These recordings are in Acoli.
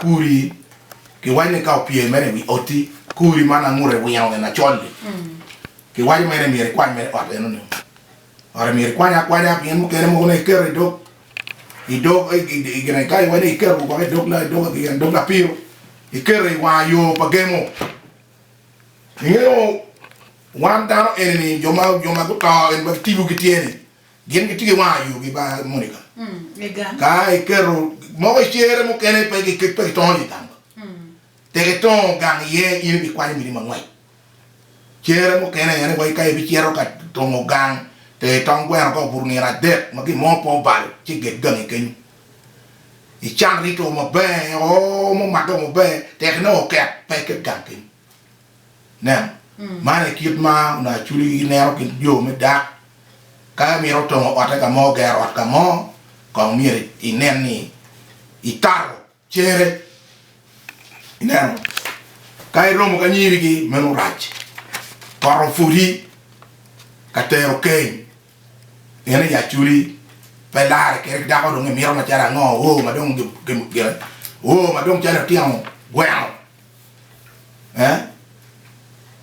Kuri, Kiwaco ni ka opye mere i wi oti, kuri ma nangute wingo ni lacol-li, kiwaco mere ni myero ikwany mere ot eno-ni. Ote myero ikwanye akwanya pien mukene mogo nongo iketo i dog, i dog, i gin aye ka iwaco ni iketo gwoko i dog, i dog, i dog lapiro, iketo i wanga yo pa gemo. Ingeyo wan dano eni-ni, jo ma, jo ma guto eni ma kitibogi tye-ni, Gin gitye ki wang ayu gibal Monica ka iketo moko i cere mukene pe gitongo i gang tek itongo gang iye in ibikwanyo miti mangwec cere mukene aye ni wai ka ibicito ka tongo gang tek itong gweno ka obuto nino adek ma gin mo pe obalo ci iget gangi kenyo ican rito maber oo mumage maber tek inongo oket pe iket gang kenyo. Nen, man aye kit ma onongo acudi gineno kin jo me dak. Ka imito tongo otte ka mo, gero ot ka mo, kong myero inen ni ikato cere. Ineno? Ka iromo ki anyirigi, meno rac. Poto pwodi ka tero keny, pien i acudi pe larre keri ki dako dong imito macalo ango, oo ma dong calo itino gweno.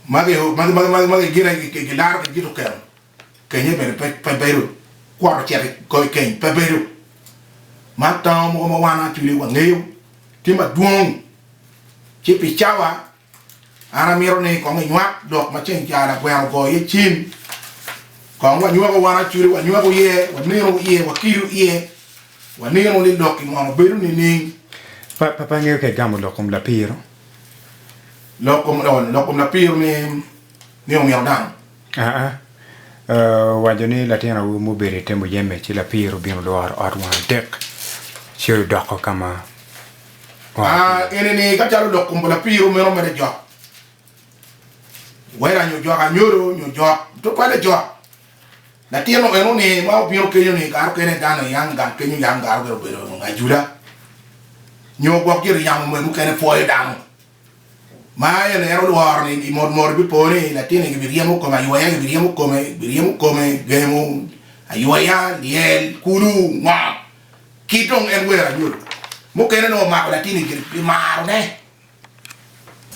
Magi gin aye gilaro ki dit okelo kenye bene pe bedo, kwot ocito i kor keny pe bedo, man tango mogo ma wan actually wangeyo tye madwong ci pi cawa an amito ni kong inywak lok ma ceng calo lagweno ogoyo iye cim kong wanywako wan actually wanywako iye, waneno iye, wakido iye. Wanino ni lok-ki mono bedo nining? Papa ngeyo ka igamo lok kom lapiro. Lok kom, oh, lok kom lapiro ni, ni omito dano. Aa, uh, waco ni latin awobi mo obedo i te muyeme, ci lapiro obino lworo ot wang adek, ci odoko ka ma oa ki Ah, iye. eni-ni, ka calo lok kom pa lapiro meno mere jok, wera nyo jok anyodo nyo jok, tutwalle jok. Latino eno ni ma obino kenyo ni kare okene dano aye yam gang kenyo yam gar obedo bedo ajula nyo gwok gire yamo me mukene pwoyo dano ma aye lero lworo ni i mot mot bipo ni latini gibi ryemo kome ayweya gibi ryemo kome gibi ryemo kome gemo ayweya lyel kulu ngo ki dong en wero anyodo mukene nongo omako latini gire pi maro ne.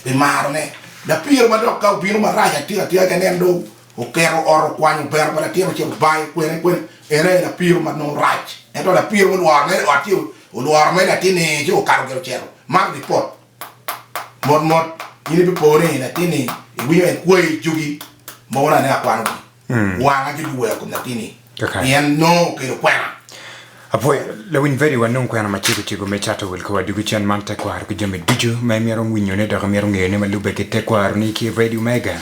I marone, lapiro madok ka obino marac atir atira kene en dong oketo ot okwanyo pero pa latin acel obayo kwene kwene en aye lapiro ma nongo rac ento lapiro mulworo mere i ot ci olworo mere latin ni ci okato gire ocito man ripot mot mot in ibipo ni latin ni iwinyo en kweyo ijogi mogo na ne akwano gi. Wanga cwiny ki wero kom latin-ni, pien nongo okelo kwena. Apwoyo lawiny Vedi wa nung kwena macego cego me cato wil kowa dugu cen man tekwaro ki jami ducu ma imito winyone dok imito ngeyone ma lubbe ki tekwaro ni ki Vedi Omega.